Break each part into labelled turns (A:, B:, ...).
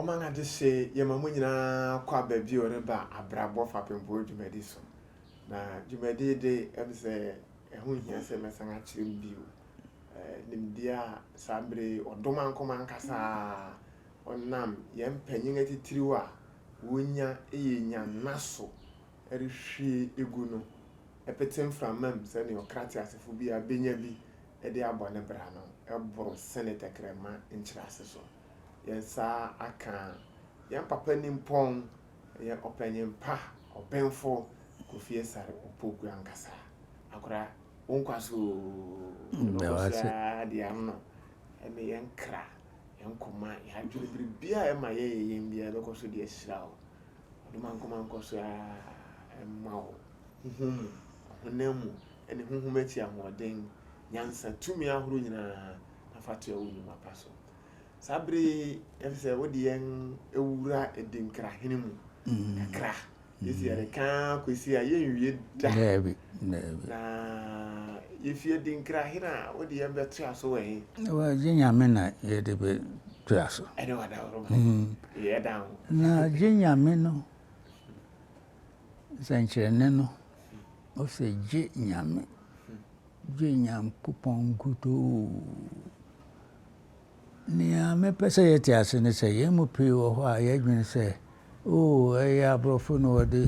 A: Ɔman Adehye yɛma mo nyinaa kɔ aba bio reba Abrabɔ Fapem Boɔ dwumadi so. Na dwumadi de ɛm sɛ ɛho hia sɛ mɛsan akyerɛ mu bio. nimdeɛ a saa bere yi ɔdɔ mankom ankasa a ɔnam yɛn mpanyin atitiriw a wonya yɛ nyanna so rehwie gu no pete mframa mu sɛnea ɔkra teasefo biara benya bi de abɔ ne bra no boro sene tɛkrɛma nkyerɛase so. Yɛn nsa aka yɛn papa nimpɔn Ɔyɛ ɔpanyin pa, ɔbenfo, Kofi Asare Opoku ankasa. Akora, wo nkwa so oo. Meda wo ase. Ɔno koraa
B: deɛ ano no,
A: ɛne yɛn kra, yɛn koma, yɛn adwene, biribiara a ɛma yɛyɛ yɛn biara ɛbɛkɔ so de ahyira wo. Ɔde mankoma nkɔ so ara mma wo, honhom mu, ɔhonam mu, ne honhom akyi ahoɔden, nyansa, tumi ahorow nyinaa, na fa toa wo nnwuma pa so. Saa bere yi, ɛfiri sɛ wode yɛn awura adinkra hene mu mm. kakra. Yɛsi yɛreka kwesi a yɛnwie da. Daabi, daabi.
B: Na
A: yɛfi adinkra hene a wode yɛn bɛtoa so wɔ he. Gye nyame
B: na yɛde bɛtoa so. Ɛne wadaworoma.
A: Mm. Yɛda ho. Na gye nyame
B: no nsɛnkyerɛnne no ɔsɛ gye nyame gye nyankopɔn nkutoo Nea mepɛ sɛ yɛte ase ne sɛ, yɛn mu pii wɔ hɔ a, yɛdwene sɛ, Oo, ɛyɛ aborɔfo na wɔde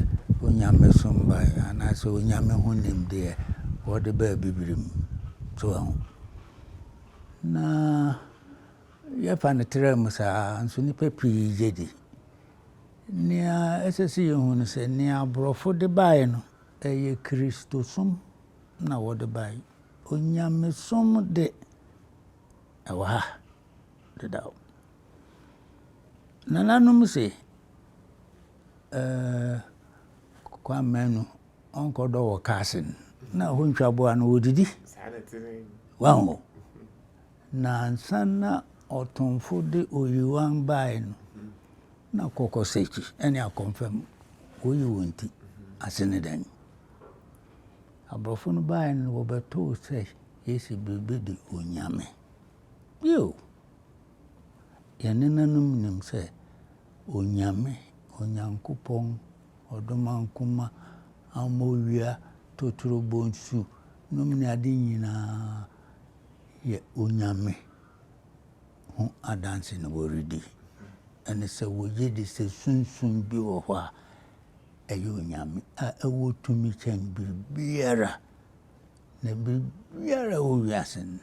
B: onyamesom bae, anaasɛ onyame ho nimdeɛ, wɔde baa Abibirim. So wɔahu? Na yɛfa no traa mu saa ara nso, nnipa pii gye di. Nea ɛsɛ sɛ yehu ne sɛ, nea aborɔfo de bae no, ɛyɛ Kristosom na wɔde bae. Onyamesom de, ɛwɔ ha dedaw. Nananom se, ɛɛɛ Kwame Manu, ɔnkɔdɔ wɔ kaase no na ɛhɔ ntwa aboa no, wɔdidi. Wahu. Na ansa na ɔtomfo de oyiwan bae no, na kɔkɔ sakyi ne akɔmfam, wɔyi wɔn ti. Ase ne dɛn? Aborɔfo no baeɛ no wɔbɛtoo sɛ Yesu bɛdi Onyame. Bio, yɛn nenanom nim sɛ Onyame, Onyankopɔn, Ɔdomankoma, Amowia, Totorobɔ nsu nom ne ade nyinaa yɛ Onyame ho adanse na wɔredi. Ɛne sɛ wɔgyedi sɛ sunsum bi wɔ hɔ a ɛyɛ Onyame a ɛwɔ tumi kyɛn biribiara, na biribiara ɛwɔ wiase no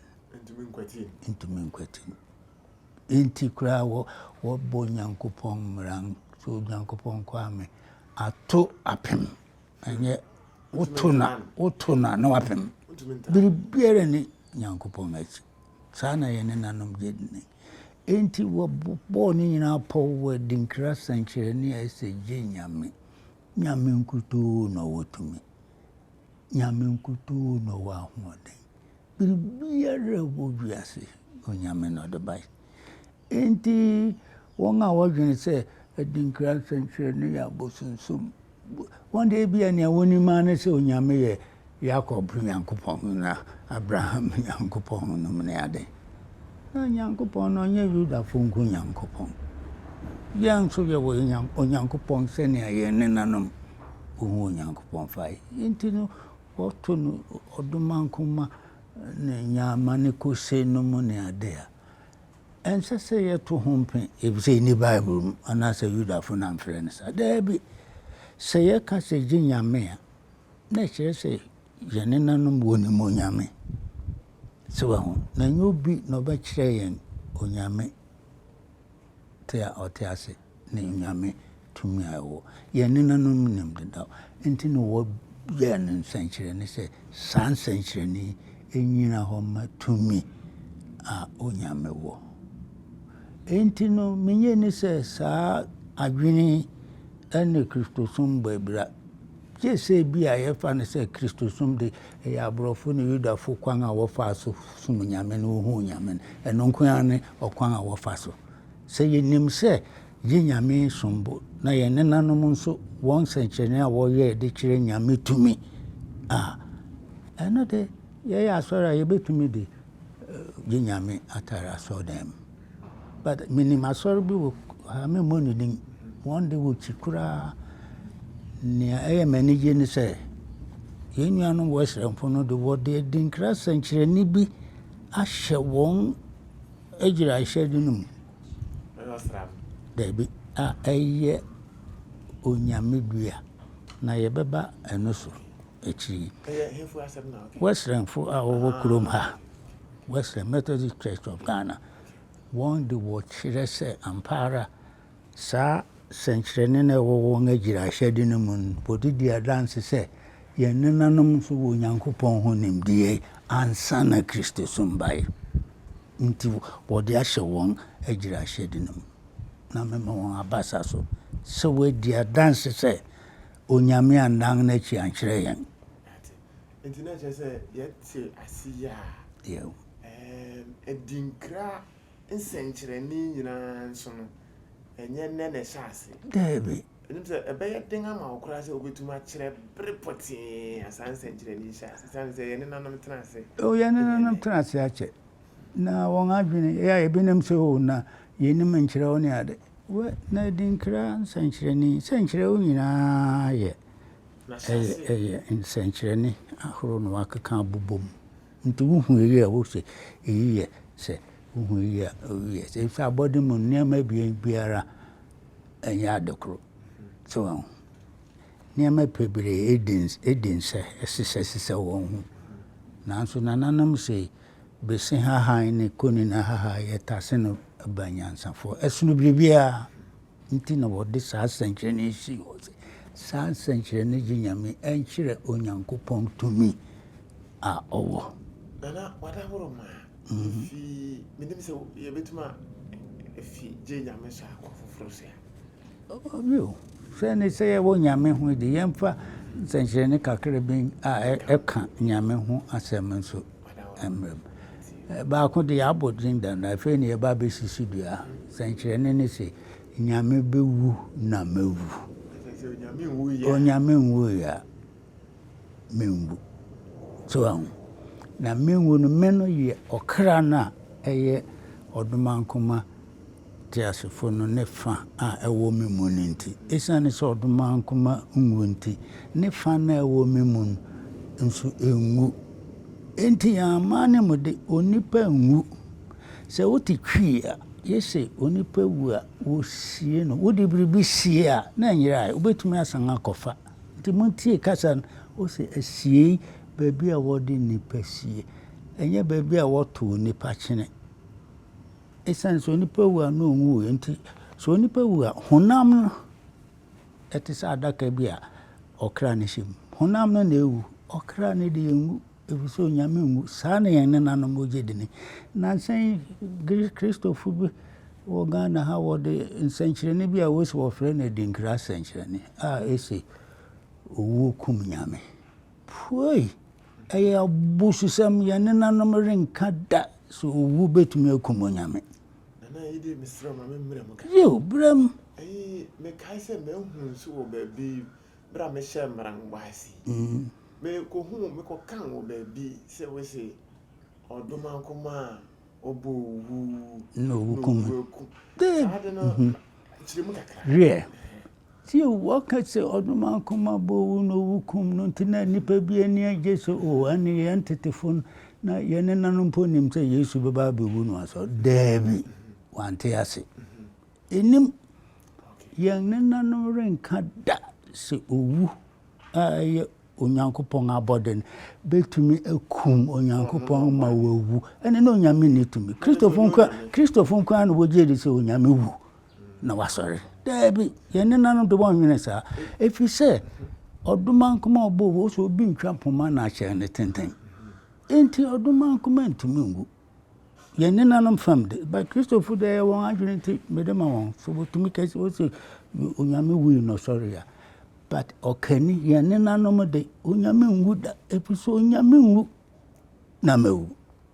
B: ntumi nkwati no. Enti koraa wɔ wɔbɔ Nyankopɔn mmara so Nyankopɔn Kwame ato apem ɛnyɛ woto na woto na na wapem biribiara ne Nyankopɔn akyi saa na yɛne nanom gye ne Enti wɔbɔɔ ne nyinaa pɔw wɔ adinkra sɛnkyerɛnne a ɛsɛ Gye Nyame, Nyame nkutoo na ɔwɔ tumi, Nyame nkutoo na ɔwɔ ahoɔden, biribiara a ɛwɔ wiase Onyame na ɔde bae. Enti wɔn a wɔdwene sɛ adinkra sɛnkyerɛnne yɛ abosonsom, Wɔn deɛ, ebia nea wonim ara ne sɛ Onyame yɛ Yakob Nyankopɔn ne Abraham Nyankopɔn nom ne ade. Na Nyankopɔn no, ɔnyɛ Yudafo nko Nyankopɔn. Yɛn nso yɛwɔ Onyankopɔn sɛnea yɛn nenanom wohu Onyankopɔn fa. Enti no, wɔto no ɔdomankoma ne nyaama ne kose nom ne ade a, ɛnsɛ sɛ yɛto ho mpɛ efisɛ enni Bible mu anaasɛ Yudafo na amfrɛ no saa. Dabi. Sɛ yɛka sɛ yegye Nyame a, na ɛkyerɛ sɛ yɛn nenanom wɔ nim onyame. So wahu? Na ɛnyɛ obi na ɔbɛkyerɛ yɛn onyame te a ɔte ase. ne Nyame tumi a ɛwɔ. Yɛn nenanom nim dedaw. Enti na wɔyɛɛ no nsɛnkyerɛnne sɛ saa nsɛnkyerɛnne yi nnyina hɔ mma tumi a Onyame wɔ. Enti no, minnye nni sɛ saa adwene yi ne Kristosom bɔ abira, gye sɛ ebia yɛfa no sɛ Kristosom de, ɛyɛ aborɔfo ne Yudafo kwan a wɔfaa so som Nyame na wohuu Nyame no. Ɛno nko ara ne ɔkwan a wɔfa so Sɛ yenim sɛ yɛn Nyame som bo na yɛn nenanom nso wɔn nsɛnkyerɛnne a wɔyɛe de kyerɛ Nyame tumi a, ɛno de yɛyɛ asɔre a yɛbɛtumi de yɛn Nyame atare asɔredan mu. But menim asɔre bi wɔ ha, memmɔ ne din, wɔn de wɔkyi koraa. Nea ɛyɛ m'anigye ne sɛ yɛn nuanom Wesleyanfo no de wɔde adinkra sɛnkyerɛnne bi ahyɛ wɔn agyiraehyɛde no mu. Dabi, a ɛyɛ Onyame dua, na yɛbɛba ɛno so akyiri yi.
A: Wɛsrɛnfo a wɔwɔ
B: kurom ha, Wɛsrɛn Methodist Church of Ghana, wɔn de wɔkyerɛ sɛ ampa ara Saa sɛnkyerɛnne no a ɛwɔ wɔn agyiraehyɛde no mu no bode di adanse sɛ yɛn nenanom nso wɔ Onyankopɔn ho nimdeɛ ansa na Kristosom bae. Enti wɔde ahyɛ wɔn agyiraehyɛde no mu na mema wɔn abasa so sɛ wɔadi adanse sɛ onyame annan n'akyi ankyerɛ yɛn. Ate. Enti
A: na ɛkyerɛ sɛ yɛte ase yi a,
B: ɛɛm, adinkra
A: nsɛnkyerɛnne nyinaa nso no, ɛnyɛ nnɛ na ɛhyɛ ase. Daabi. Ɛnim
B: sɛ ɛbɛyɛ
A: den ama wo koraa sɛ wobɛtumi akyerɛ bere pɔtee a saa nsɛnkyerɛnne yi hyɛɛ ase, esiane sɛ yɛn nenanom tena ase. Oh, yɛn nenanom tena
B: ase akyɛ, na wɔn adwene, ɛyɛ a yɛbɛnim sɛ, oh, na yɛnnim nkyerɛw ne ade. Wɛ, na Adinkra nsɛnkyerɛnne yi, sɛ nkyerɛw nyinaa yɛ, ɛyɛ, ɛyɛ nsɛnkyerɛnne ahorow na wɔakeka abobom. Nti wohu eyi a wose eyi yɛ sɛ, wohu eyi a eyi yɛ sɛ. Efisɛ abɔde mu nneɛma abien biara ɛnyɛ ade koro. So wɔn ho. Nneɛma bebree edi edi nsɛ ɛsesɛ sesɛ wɔn ho. Nanso nananom se bese hahan ne konina hahan yɛtase no ba nyansafoɔ ɛsono biribiara. Nti na wɔde saa nsɛnkyerɛnne yi sii hɔ sɛ, saa nsɛnkyerɛnne gye Nyame ɛnkyerɛ Onyankopɔn tumi a ɔwɔ. Nana wada
A: horo ma efi menim sɛ yɛbɛtuma efi gye Nyame so akɔ foforo so a. Ɔbi o,
B: sɛ ne sɛ yɛwɔ Nyame ho de yɛmfa nsɛnkyerɛnne kakra bi a ɛka Nyame ho asɛm nso mmerɛ mu. Baako deɛ yɛabɔ din da no, afei na yɛreba abɛsi so dua. Sɛnkyerɛnne ne sɛ, Nyame bɛwu na mɛwu. Onyame nwuiɛ a, menwu. So ahu? Na menwu no, me no yɛ ɔkra no a ɛyɛ ɔdomankoma teasefo no ne fã a ɛwɔ me mu no nti. Esiane sɛ ɔdɔ ma nkwa nwu nti, ne fã no a ɛwɔ me mu no nso renwu. Enti yɛamma ne mu de, onipa nwu. Sɛ wote twi a, yese onipa wu a, wosie no. Wode biribi sie a, na ɛnyera ɛ, wobetumi asan akɔfa. Enti muntie kasa no. Wose asiei, baabi a wɔde nnipa sie, ɛnyɛ baabi a wɔtow nnipa kyene. Esiane sɛ onipa wu a na onwui nti, sɛ onipa wu a, honam no, ɛte sɛ adaka bi a ɔkra no hyɛ mu. Honam no na ewu, ɔkra no deɛ enwu, efisɛ onyame nwu. Saa na yɛn nenanom wogye di ni. Nnansa yi, Kristofo bi wɔ Ghana ha, wɔde nsɛnkyerɛnne bi a wose wɔfrɛ no adinkra sɛnkyerɛnne a ese owuo kum nyame. Puei! Ɛyɛ abususɛm! Yɛn nenanom renka da sɛ owu betumi akum onyame. Nana Ayide,
A: mesrɛ wo ma me mmerɛ mu kakra. Yiw, berɛ mu.
B: Ɛyi, mekae
A: sɛ mahu nso wɔ baabi berɛ a mehyɛɛ mmara no bɔ ase yi. Mekɔhuu, mekɔkan wɔ baabi sɛ wose ɔdomankoma a na owu kum no. Hwɛ,
B: tie o, wɔka sɛ ɔdomaa koma bɔ owu na owu kum no nti na nnipa bi ani agye sɛ o ɛne yɛn tetefo no na yɛn nenanom mpo nim sɛ Yesu bɛba abɛwu no asɔ. Daabi, wante ase. Ɛnim, yɛn nenanom renka da sɛ owu a ɛyɛ Onyankopɔn abɔde no bɛtumi akum Onyankopɔn ma wawu. Ɛne na Onyame nni tumi. Kristofo nko Kristofo nko na wɔgye di sɛ Onyame wu na wasɔre. Daabi, yɛn nenanom de wɔnwene saa. Ɛfiri sɛ, ɔdomankoma ɔbɔ wɔ sɛ obi ntwa mpoma na ahyɛn no tenten. Enti ɔdomankoma ntumi nwu. Yɛn nenanom fam de, but Kristofo de ɛyɛ wɔn adwene nti mede ma wɔn. So wɔtumi ka sɛ wɔsɛ Onyame wui na ɔsɔre a. But ɔkani yɛn nenanom de, Onyame nwu da, ɛfiri sɛ Onyame nwu na mawu.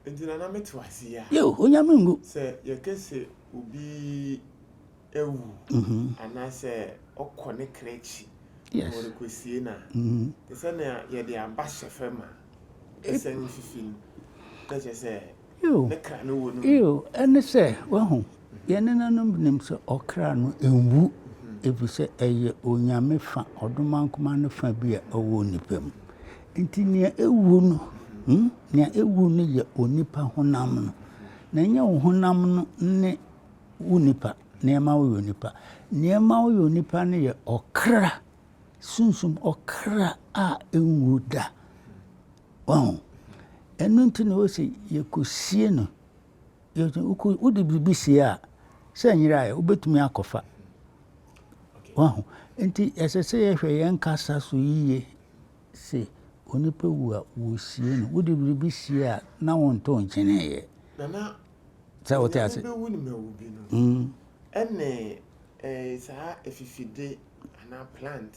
B: Nti na na mete
A: wase yi a. Yo, Onyame nwu.
B: Sɛ yɛka sɛ
A: obi awu anaasɛ ɔkɔ ne kra akyi na
B: wɔrekɔsie no a,
A: te sɛ nea yɛde aba hyɛ fam a. Ɛne
B: sɛ,
A: wahu,
B: yɛn nenanom nim sɛ ɔkra no nwu, efisɛ ɛyɛ onyame fã, ɔdomankoma no fã bi a ɛwɔ onipa mu. Enti nea ewu no, hmm, nea ewu no yɛ onipa honam no, na ɛnyɛ wo honam no ne wo nipa, nea ɛma woyɛ onipa. Nea ɛma woyɛ onipa no yɛ ɔkra sunsum ɔkra a enwu da. Wahu? Ɛno nti na ɔse yɛkɔsie no. Wode biribi sie a, sɛ nyera a, wobɛtumi akɔfa. Wahu? Nti ɛsɛ sɛ yɛhwɛ yɛn kasa so yiye se onipa wu a wɔsie no. Wode biribi sie a, na wontoo nkyeneeɛ. Nana, sɛ wote ase.
A: Ɛne saa afifide Anaa plant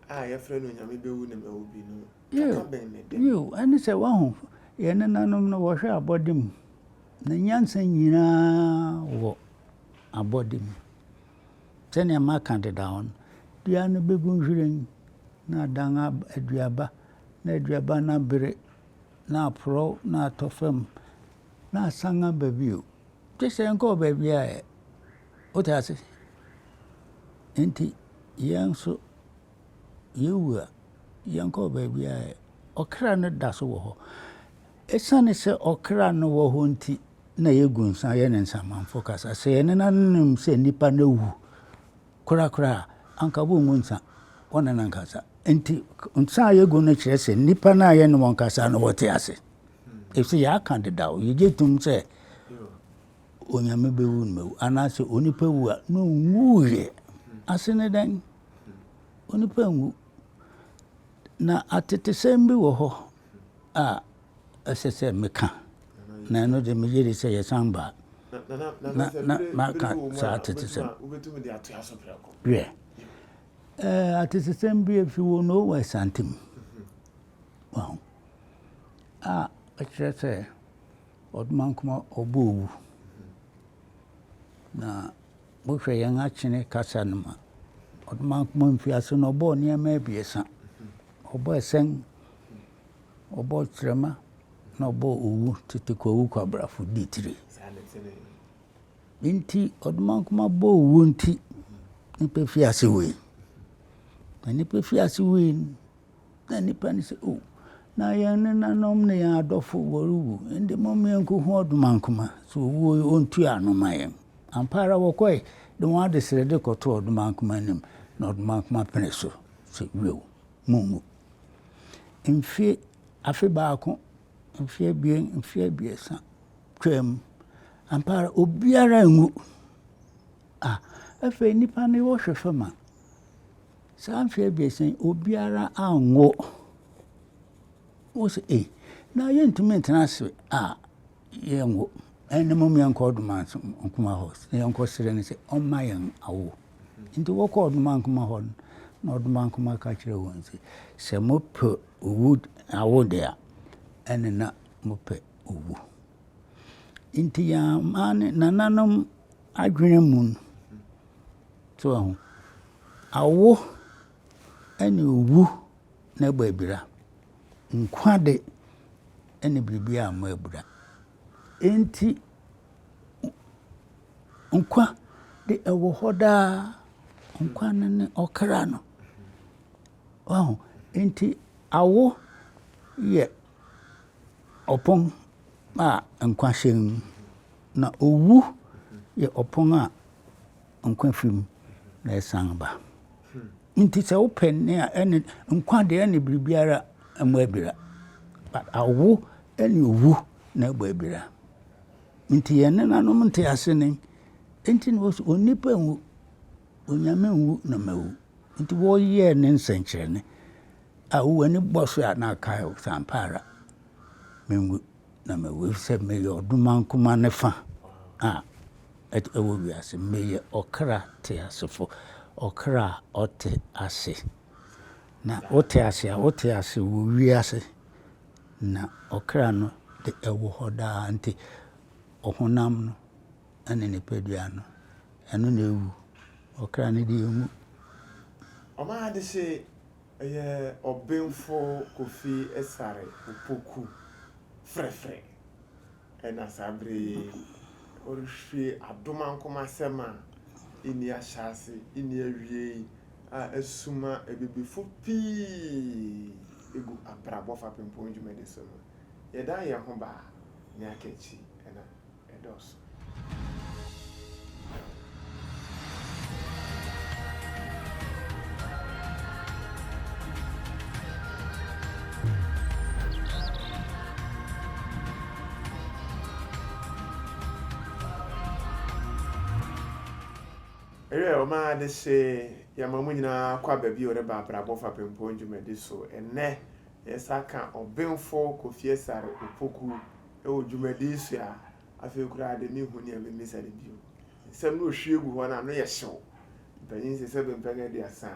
A: a yɛfrɛ no Onyame bɛwu na mawu bi no, kaka bɛn na ɛda mu? Yiw, ɛne sɛ, woahu,
B: yɛn nenanom no, wɔhwɛ abɔde mu, na nyansa nyinaa wɔ abɔde mu. Sɛnea maka dedaw no, dua no begu nhwiren, na adan aduaba, na aduaba no abere, na aporɔw, na atɔ fam, na asan aba bio, gye sɛ ɛnkɔɔ baabiara ɛ. Wote ase? Enti yɛn nso, yɛwu a, yɛnkɔ baabi a ɔkra no da so wɔ hɔ. Esiane sɛ ɔkra no wɔ hɔ nti na yɛgu nsa yɛ ne nsamanfo kasa. Sɛ yɛn nenanom nim sɛ nnipa no awu korakora a, anka wɔngu nsa wɔ ne nankasa. Enti nsa a yɛgu no kyerɛ sɛ nnipa no a yɛne wɔn kasa no wɔte ase. Ɛfiri sɛ yɛaka dedaw, yɛgye tom sɛ Onyame bɛwu no mawu anaasɛ onipa wu a na ɔnwuiɛ ase ne dɛn onipa nwu na atetesɛm bi wɔ hɔ a ɛsɛ sɛ meka na ɛno de meyere sɛ yɛsan baa na maka saa atetesɛm wiɛ atetesɛm bi ɛfi wɔ no wɔ asante mu a ɛkyerɛ sɛ Odumankuma ɔbɔ owu. Na wohwɛ yɛn akyene kasa no mu a, Odumankuma mfiase no ɔbɔɔ nneɛma abiɛsa. Ɔbɔɔ ɛsɛn, ɔbɔɔ kyerɛma, na ɔbɔɔ owu, tete kwawu kwabrafo di tiri. Nti Odumankuma bɔ owu nti, nnipa fi ase wui. Na nnipa fi ase wui no, Na nnipa no se, O! Na yɛn nenanom ne yɛn adɔfo, wɔrewu, enti momma yɛnko hu ɔdomankoma, sɛ ɔwu yi, ɔntua ano mma yɛn. Ampa ara wɔkɔe de wɔn adesrɛde kɔtoo ɔdomankoma anim, na ɔdomankoma penee so se, Wiɛw, monnwu. Mfe, afe baako, mfe abien, mfe abiɛsa, twaam. Ampa ara obiara anwu. Ah! Afei nnipa no wɔhwɛ fam a. Saa mfe abiɛsa yi, obiara anwo. Wose ei, na yɛntumi ntena ase a yɛnwo. Ɛne mom yɛnkɔ ɔdoma nkoma hɔ na yɛnkɔ srɛ no sɛ ɔmma yɛn awo. Nti wɔkɔ ɔdoma nkoma hɔ no, na ɔdoma nkoma ka kyerɛ wɔn sɛ, sɛ mopɛ owu awo de a, ɛne na mopɛ owu. Nti yɛn nananom adwene mu no, so ahu. Awo ne owu na ɛbɔ abira. Nkwa de, ɛne biribiara mmɔ abira. Enti, nkwa de, ɛwɔ hɔ daa. Nkwa no ne ɔkra no. Wahu? Enti, awo yɛ ɔpon a nkwa hyem, na owu yɛ ɔpon a. Nkwa fi mu na ɛsan ba. Nti sɛ wopɛ nne a, ɛne nkwa deɛ ɛne biribiara mmɔ abira. But awo ɛne owu na ɛbɔ abira. Nti yɛn nenanom nte ase ne nti na wɔsi onipa nwu, onyame nwu na mawu. Nti wɔyɛɛ ne nsɛnkyerɛnne a wowɔ ani bɔ so a na akae wo sɛ ampa ara menwu. Na mewuei sɛ meyɛ ɔdoman kumaa no fã a ɛwɔ wiase. Meyɛ ɔkra teasefo, ɔkra a ɔte ase. Na wote ase a, wote ase wɔ wiase, na ɔkra no de, ɛwɔ hɔ daa. Enti ɔhonam no ne nipadua no, ɛno na ewu. Ɔkra no de, enwu.
A: Ɔmaa ade se Ɛyɛ Ɔbenfo Kofi Asare Opoku frɛfrɛ na saa bere yi ɔrehwie adom ankom asɛm a enni ahyɛase enni awiei a asuma abibifo pii gu Abrabɔ Fapempɔn dwumadi so no. Yɛdan yɛn ho ba a, nea aka akyi na. ɛdɔɔso. Ewiei a, ɔmaa adehye yɛma mo nyinaa kɔ aba bio reba Abrabɔ Fapem Pɔn dwumadi so. Ɛnnɛ, yɛsan ka Ɔbenfo Kofi Asare Opoku Wɔ dwumadi so a, afei koraa de, minhu nea mimmisa no bio. Nsɛm no ohwie gu hɔ no, ano yɛ hyew. Mpanyin sɛ sɛ bɛmpɛn aduasa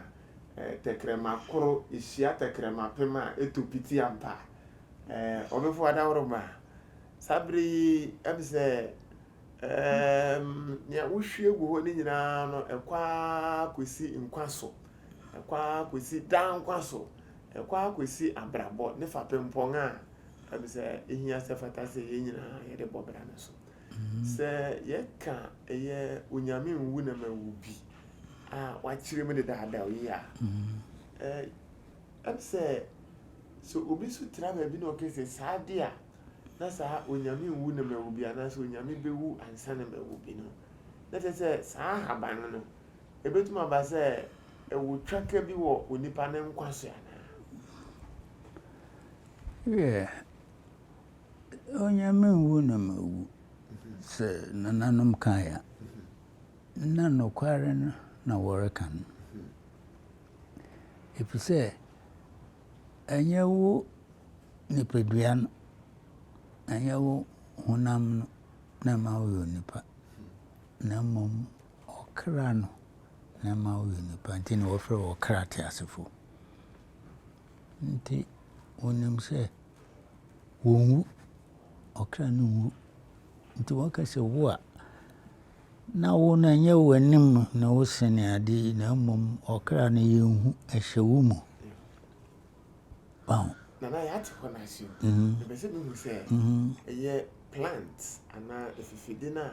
A: a, ɛɛ, tɛkrɛma koro hyia tɛkrɛma apem a, etu piti ampa. Ɛɛ, ɔbefo adaworoma, saa bere yi ɛm sɛ, ɛɛm, nea wohwie gu hɔ no nyinaa no, ɛkɔ ara kosi nkwa so, ɛkɔ ara kosi daa nkwa so, ɛkɔ ara kosi abrabɔ ne fapempɔn a Ɛfiri sɛ ɛhia sɛ fata sɛ yɛn nyinaa yɛde bɔ bra no so. Sɛ yɛka ɛyɛ Onyame nwu na ma wu bi a wakyerɛ mu dedaada yi a, ɛm sɛ sɛ obi nso tra baabi na ɔka sɛ saa de a na saa Onyame nwu na ma wu bi anaasɛ Onyame bɛwu ansa na ma wu bi no, na kyerɛ sɛ saa ahaban no ɛbɛtumi aba sɛ ɛwɔ twaka bi wɔ onipa ne nkwa so anaa?
B: Wiɛ, Onyame nwu na mawu, sɛ nananom kae a, na nokware no na wɔreka no. Efisɛ ɛnyɛ wo nipadua no, ɛnyɛ wo honam no na ɛma woyɛ onipa, na mmom ɔkra no na ɛma woyɛ onipa. Nti na wɔfrɛ wɔn ɔkra teasefo. Nti wɔnim sɛ wɔnwu, ɔkra no nwu. Nti wɔka sɛ wo a, na wo no ɛnyɛ w'anim na wosene ade yi na mmom ɔkra no yɛnhu ɛhyɛ wo mu. Wow.
A: Nana yɛate hɔ no ase o. Ɛbɛ sɛ mehu sɛ ɛyɛ plant anaa afifide no a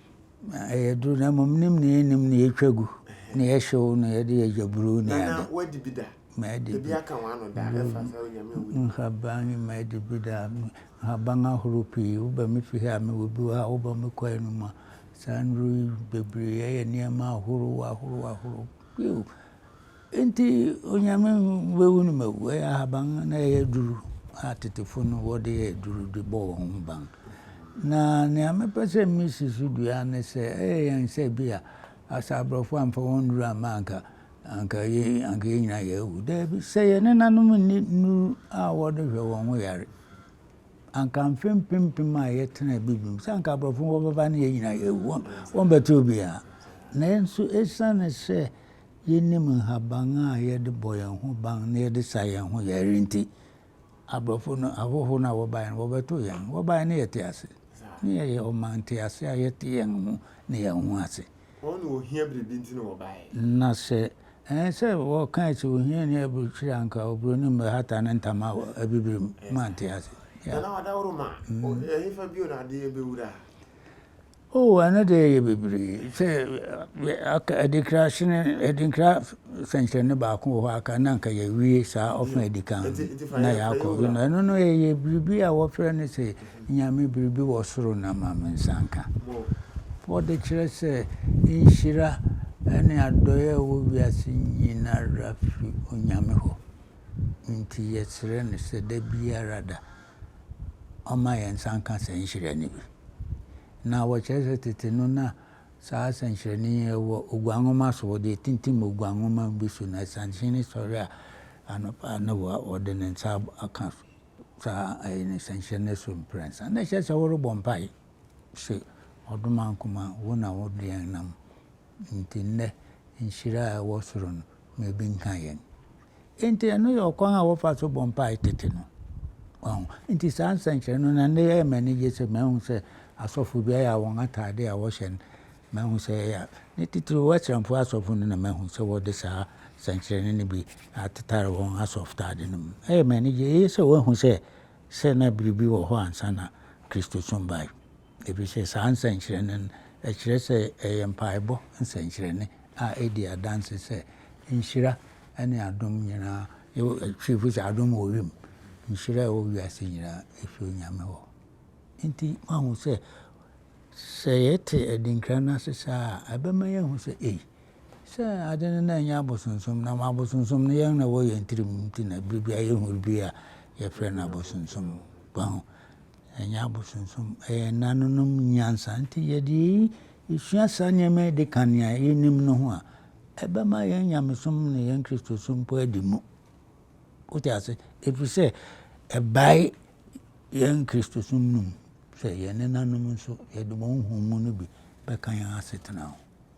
B: Ɛyɛ duru na mmom nim nea ɛnim na yɛtwa gu na yɛhyew na yɛde yɛ gyaburo ne ade. Nana wadi bi da.
A: Madi bi. Ebi aka wɔn ano da ɛfa sɛ onyame wu. Nhaban madi
B: bi da. Nhaban ahorow pii woba me fie a mewɔ bi wɔ ha woba me kwae no mu a saa nnuru yi bebree ɛyɛ nneɛma ahorow ahorow ahorow bio. Enti Onyame bɛwu no mawu. Ɛyɛ ahaban na ɛyɛ aduru a tetefo no wɔde yɛ aduru de bɔ wɔn ho ban. Na nea mepɛ sɛ misi so dua ne sɛ ɛyɛ yɛn sɛ bi a asɛ aborɔfo amfa wɔn nnuru amma anka anka yɛ anka yɛn nyinaa yɛawu. Daabi, sɛ yɛn nenanom nni nnuru a wɔde hwɛ wɔn ho yare anka mfe mpempem a yɛtena bibim sɛ anka aborɔfo wɔbɛba ne yɛn nyinaa yɛawu. Wɔn wɔn bɛte obiara. Nanso esiane sɛ Yennim nhaban a yɛde bɔ yɛn ho ban na yɛde sa yɛn ho yare nti, aborɔfo no, ahɔho no a wɔbae no, wɔbɛtoo yɛn. Wɔbae no, yɛtee ase. Ná yɛyɛ ɔman ntease a yɛte yɛn ho ne yɛn ho ase. Wɔn na ohia biribi nti na wɔbae. Na sɛ ɛyɛ sɛ wɔkae sɛ ohiani aburukyiri a anka oburoni mmɛhata ne ntama wɔ abibiri mu. Moante ase? Yeah. Nana Wadaworo ma, ɛhefa bio na adeyɛ bɛwura? Oh, ɛno deɛ ɛyɛ bebree. Sɛ aka adinkra hyene adinkra sɛnkyerɛnne baako wɔ hɔ aka na nka yɛawie saa ɔfa adi kan na yɛakɔ no ɛno no ɛyɛ biribi a wɔfrɛ no sɛ nyame biribi wɔ soro na ma me nsa nka wɔde kyerɛ sɛ nhyira ɛne adɔeɛ a ɛwɔ wiase nyinara fi onyame hɔ nti yɛsrɛ no sɛ da biara da ɔma yɛn nsa nka saa nhyerɛnne bi. Na wɔkyerɛ sɛ tete no na saa sɛnkyerɛnne yi wɔ oguan nwoma so wɔde tintim oguan nwoma bi so na sanhyene sɔre a anɔpa na wɔde ne nsa aka so saa ɛyɛ ne sɛnkyerɛnne so mprɛnsa na ɛkyerɛ sɛ wɔrebɔ mpae sɛ ɔdoma nkoma wo na wode yɛn nam nti nnɛ nhyira a ɛwɔ soro no ma ebi nka yɛn Enti ɛno yɛ ɔkwan a wɔfa so bɔ mpae tete no. Wahu? Enti saa nsɛnkyerɛnne no, na nnɛ ɛyɛ me anigye sɛ mahu sɛ asɔfo bi ayɛ a wɔn atade a wɔhyɛ no, mahu sɛ ɛyɛ a, ne titiriw Westernfo asɔfo no na mahu sɛ wɔde saa nsɛnkyerɛnne no bi atetare wɔn asɔfotade no mu. Ɛyɛ me anigye. Eye sɛ wɔahu sɛ, sɛ na biribi wɔ hɔ ansa na Kristosom bae. Efisɛ saa nsɛnkyerɛnne no, ɛkyerɛ sɛ ɛyɛ mpaebɔ nsɛnkyerɛnne a edi adanse sɛ nhyira ne adom nyinaa, Twifo se adom wɔ wim, nhyira a ɛwɔ wiase nyinaa efi Onyame hɔ. Enti woahu sɛ, sɛ yɛte adinkra no ase saa a, ɛbɛma yɛahu sɛ, ei, sɛ ade no na ɛnyɛ abosonsom, na abosonsom no yɛn na ɛwɔ yɛn tirim nti na bere biara yehu biribi a yɛfrɛ no abosonsom. Wahu? Ɛnyɛ abosonsom, ɛyɛ ɛnãnom nyansa. Nti yɛde eyi, yesua saa nneɛma yi de ka nea yenim no ho a, ɛbɛma yɛn nyamesom ne yɛn Kristosom mpo adi mu. Wote ase? Ɛfiri sɛ, ɛbae yɛn Kristosom no mu sɛ yɛn nenanom nso, yɛde wɔn nhumu no bi bɛka yɛn asetena ho.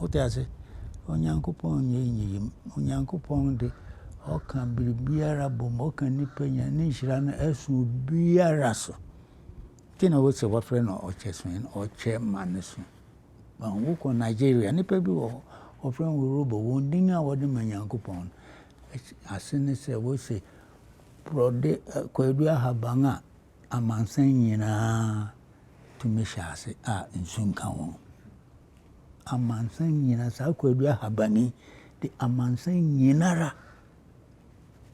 B: Wote ase? Onyankopɔn nyɛ nyiyim. Onyankopɔn de, ɔka biribiara bom, ɔka nipa nya ne nhyira no ɛso biara so. Nti na wosɛ wɔfrɛ no ɔkyɛ so ɔkyɛ ma no so. Wokɔ Nigeria, nipa bi wɔ hɔ, wɔfrɛ no Robo, wɔn din a wɔde ma Nyankopɔn ase ne sɛ wose borɔde eh, kwadu ahaban a amansan nyinaa tumi hyɛ ase a nsu nka ho no. Amansan nyinaa, saa Kwadu Ahaban yi de amansan nyinara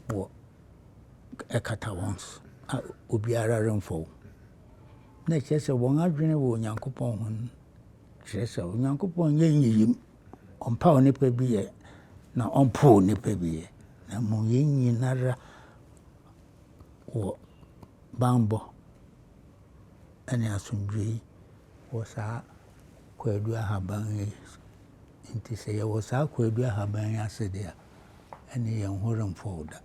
B: wɔ ɛkata wɔn so a obiara remfɔ wo. Na ɛkyerɛ sɛ wɔn adwene wɔ Onyankopɔn ho no kyerɛ sɛ Onyankopɔn nyɛ nyiyim. Ɔmpa onipa bi yɛ na ɔmpo onipa bi yɛ. Na mmom yɛn nyinara wɔ bammɔ ne asomdwoe mu wɔ saa Kwadu Ahaban yi so. Enti sɛ yɛwɔ saa Kwadu Ahaban yi ase de a, ɛnne yɛn ho rempow da,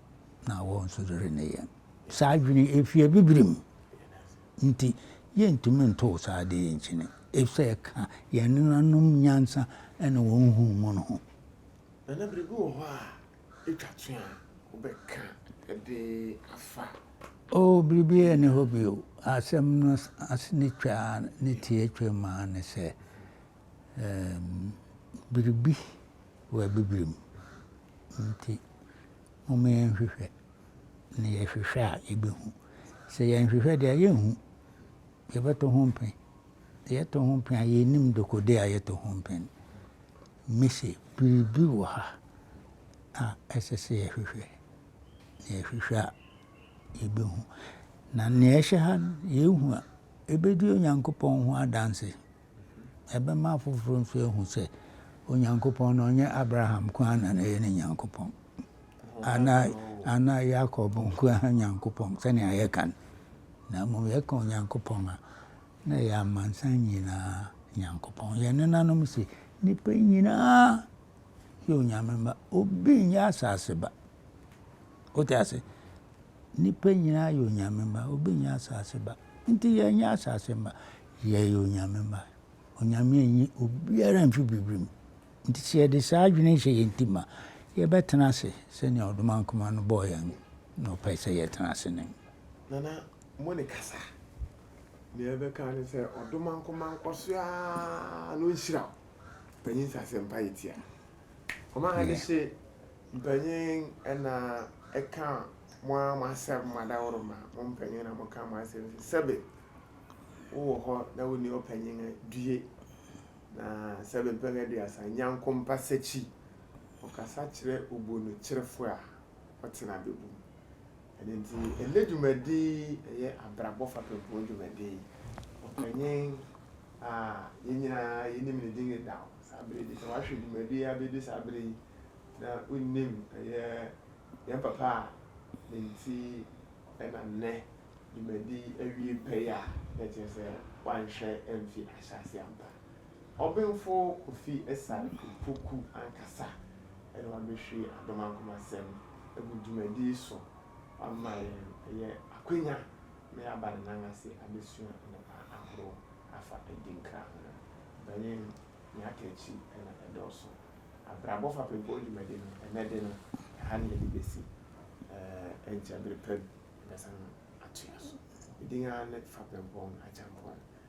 B: na awɔw nso renne yɛn. Saa adwene yi, efi Abibirim nti, yentumi ntow saa ade yi nkyene, efisɛ ɛka yɛn nenanom nyansa ne wɔn nhumu no
A: ho. Twatwe a wobɛka de afa. O, biribiara
B: nni hɔ bio. Asɛm no ase ne twaa ne tiatwam ara ne sɛ, um, biribi wɔ Abibirem. Nti, momma yɛnhwehwɛ, na yɛhwehwɛ a yɛbɛhu. Sɛ yɛnhwehwɛ deɛ a, yɛnhu. Yɛbɛto ho mpe. Yɛto ho mpe a, yɛnnim dekode a yɛto ho mpe no. Mise, Biribi wɔ ha a ɛsɛ sɛ yɛhwehwɛ, na yɛhwehwɛ a yebehu. Na nea ɛhyɛ ha no, yehu a, ebedi Onyankopɔn ho adanse. Ɛbɛma afoforo nso ahu sɛ Onyankopɔn no, ɔnyɛ Abraham nko ara na na ɛyɛ ne Nyankopɔn, anaa, anaa Yakob nko ara Nyankopɔn, sɛnea yɛka no, na mmom yɛka Onyankopɔn a, na ɛyɛ amansan nyinaa Nyankopɔn. Yɛn nenanom se, Nnipa nyinaa yɛ Onyame mma. Obi nyɛ asase ba. Wote ase? Nnipa nyinaa yɛ Onyame mma. Obi nyɛ asase ba. Nti yɛnyɛ asase mma. Yɛyɛ Onyame mma. Onyame anyi obiara mfi biribi mu. Nti sɛ yɛde saa adwene hyɛ yɛn ti ma, yɛbɛtena ase sɛnea ɔdomankoma no bɔɔ yɛn na ɔpɛ sɛ yɛtena ase no. Nana,
A: mo ne kasa. Nea yɛbɛka ne sɛ ɔdɔ manko mankɔ so ara na ɔnhyira wo. Panyin sɛ asɛmpa yɛ tia. Ɔma ade hye mpanyin na ɛka mo ara mo asɛm mo adaworo ma mo mpanyin na mo ka mo asɛm fi sɛbe wowɔ hɔ na wonni ɔpanyin a due na sɛbe mpɛn aduasa nyankompa sakyi ɔkasa kyerɛ obuonokyerɛfo a ɔtena bɛbom. Ɛno nti, ɛnnɛ dwumadi yi yɛ abrabɔ fapem ho dwumadi. Ɔpanyin a yɛn nyinaa yɛnim ne din dedaw, saa bere yi, sɛ wahwɛ dwumadi yi abedu saa bere yi na wunnim, ɛyɛ yɛn papa a ne nti na nnɛ dwumadi awie pɛyɛ a, na ɛkyerɛ sɛ wanhwɛ amfi ahyɛase ampa. Ɔbenfo Kofi Asare Opoku ankasa na wabɛhwie adom ankomasɛm agu dwumadi yi so ama yɛn. Ɛyɛ akwanya ma yɛaba ne nan ase abɛsua nnepa ahorow afa adi nkra ho. Ɔpanyin, nea aka akyi na ɛdɔɔso. Abrabɔ fapempɔ dwumadi no, ɛnnɛ de no, ɛha na yɛde bɛsi. Ɛnkyɛ bere pa bi yɛbɛsan atoa so. Ne din ara ne Fapempɔn Agyampɔn.